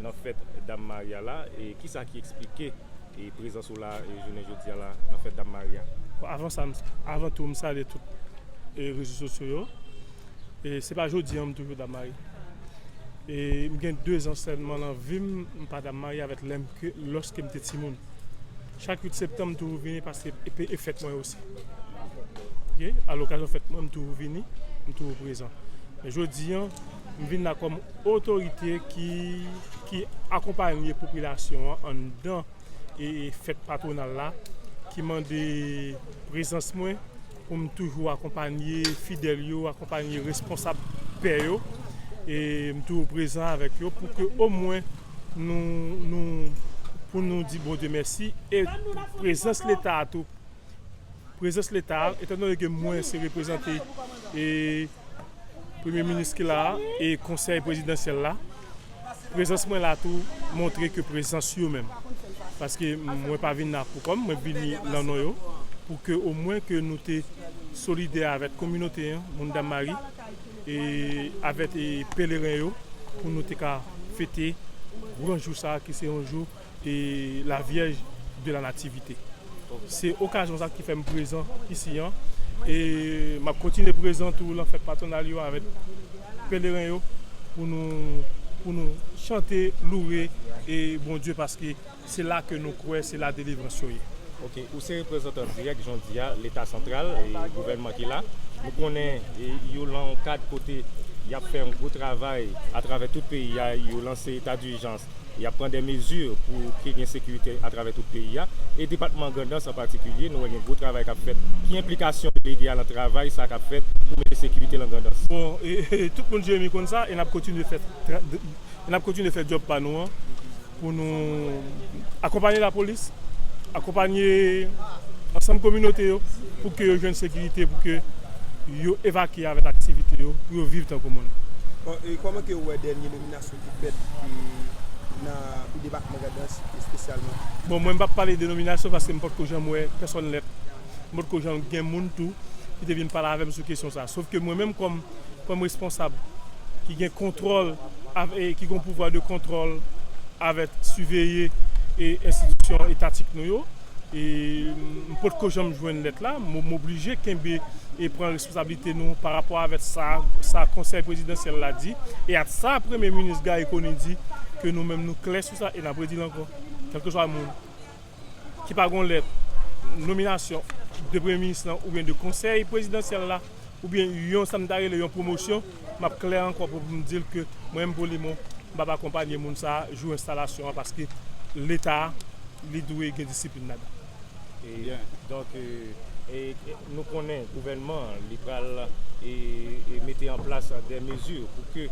Nan fèt Dam Maria la, kisa ki eksplike prezans ou la jounen jodi a la nan fèt Dam Maria? Bon avan sa, avan tou m salye tout rezo sosyo yo. E se pa jodi an m toujou Dam Mari. E m gen 2 zan sèlman nan vi m, m pa Dam Mari avèk lè m ke lòske m te timoun. Chak 8 septanm m toujou vini paske e fèt mwen osi. Ok, a lokazyon fèt mwen m toujou vini, m toujou prezan. Men jodi an. M vin la kòm otorite ki akonpanye popilasyon an anndan fèt patwonal la ki mande prezans mwen pou m toujou akonpanye fidèl yo, akonpanye responsab pè yo e m toujou prezan avèk yo pou ke omwen pou nou di Bondye mèsi e prezans leta a tou prezans leta a etandone ke mwen se reprezante Premye Minis ki la a e Konsèy Prezidansyèl la, prezans mwen la tou montre ke prezans yo menm, paske mwen pa vin la poukò m, mwen vini lan non yo, pou ke omwen ke nou te solidè avèt kominote an, moun Dammari, e avèt peleren yo, pou nou te ka fete gran jou sa a ki se yon jou. la vyèj de la nativite se okazyon sa ki fèm prezan isi an e map kontinye prezan tou lan fèt patwonal yo avèk peleren yo pou nou pou nou chante loure e Bondye paske se la ke nou kwè se la delivrans yo ye. Ok ou se reprezantan dirèk jan w di a leta santral e gouvènman ki la nou konnen yo lan yon kad kote yap fè yon gwo travay atravè tout peyi a yo lanse eta dijans Y ap pran de mezi pou ke gen sekirite atravè tout peyi a. E depatman Grandans an patikilye, nou wè gen gwo travay k ap fèt. Ki enplikasyon delege a lan travay sa k ap fèt pou mete sekirite lan Grandans? Bon, tout moun Jeremi konn sa e n ap kontinye fè e n ap kontinye fè djòb pa nou an pou nou akonpanye lapolis, akonpanye ansanm kominote yo pou ke yo jwenn sekirite pou ke yo evakye avèk aktivite yo pou yo viv tankou moun. Bon, e kòman ke ou wè dènye nominasyon? Sa ki fèt nan tout depatman Grandans espesyalman. Bon mwen m pap pale denominasyon paske m potko janm wè pèsòn lèt. M potko janm gen moun tou ki te vin pale avè m sou kesyon sa. Sof ke mwen menm kòm kòm responsab ki gen kontwòl avè e ki gon pouvwa de kontwòl avè siveye e enstitisyon etatik nou yo e m potko janm jwenn lèt la. M oblije kenbe e pran. Responsabilite nou pa rapò avèk sa sa konsèy prezidansyèl la di e ak sa premye minis Garry Conille di ke nou menm nou klè sou sa e n ap redi l ankò kèlkeswa moun ki pa gen yon lèt nominasyon de premye minis lan oubyen de konsèy prezidansyèl la oubyen yon sa m ta rele yon pwomosyon m ap klè ankò pou m di l ke mwen menm Polimon m p ap akonpanye moun sa jou enstalasyon an paske leta li dwe gen disiplin ladan. Donk nou konnen gouvènman an li pral mete an plas dè mezi pou ke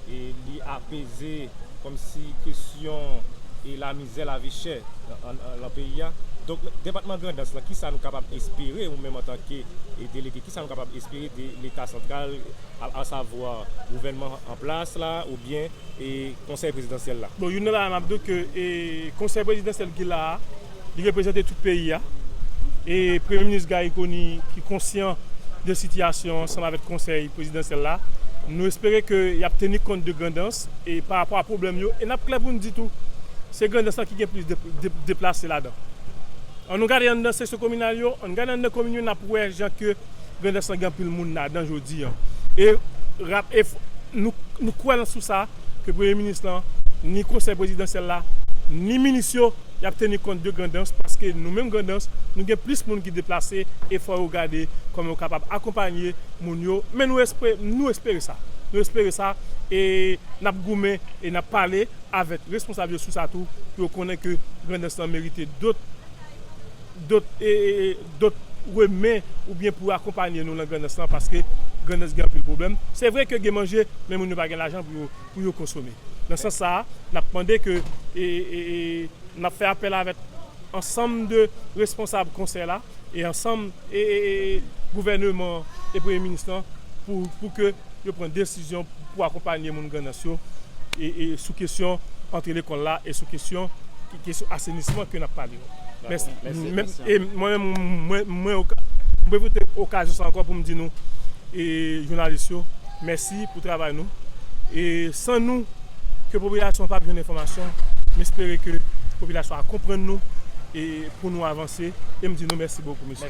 li apeze kòm si kesyon la mizè la vi chè lan peyi a. Donk depatman Grandans lan kisa nou kapab espere ou menm an tan ke delege kisa nou kapab espere de leta santral a savwa gouvènman an plas la ou byen konsèy prezidansyèl la. Bon youn nan bagay map diw ke konsèy prezidansyèl ki la a li reprezante tout peyi a e premye minis Garry Conille ki konsyan de sitiyasyon ansanm avèk konsèy prezidansyèl la nou espere ke yap teni kont de Grandans e pa rapò a pwoblèm yo e nap klè poun di tou se Grandans lan ki gen plis deplase ladan an nou gade anndan seksyon kominal yo an gade anndan komin yo nap wè jan ke Grandans lan gen anpil moun ladan jodi an. E rap e nou kwè nan sou sa ke premye minis lan, ni konsèy prezidansyèl la, ni minis yo y ap teni kont de Grandans paske nou menm Grandans nou gen plis moun ki deplase e fò yo gade kòman yo kapab akonpanye moun yo men nou espre nou espere sa nou espere sa e n ap goumen e n ap pale avèk responsab yo sou sa tou pou yo konnen ke Grandans lan merite dot Dot remen ou byen pou akonpanye nou lan grandans lan paske grandans gen anpil pwoblem. Se vre ke gen manje men moun yo pa gen lajan pou yo konsome. Lan sans sa a nap mande ke nap fè apel avek ansanm de responsab konsey la e ansanm e gouveneman e premye minis lan pou ke yo pran desizyon pou akonpanye moun Grandans yo sou kesyon antre lekòl la e sou kesyon asenisman ke n ap pale yo. E mwen menm mwen pwofite okazyon sa ankò pou m di nou jounalis yo mèsi pou travay nou e san nou ke popilasyon an pa p jwenn enfòmasyon m espere ke popilasyon a konprann nou e pou nou avanse e m di nou mèsi bokou mesye.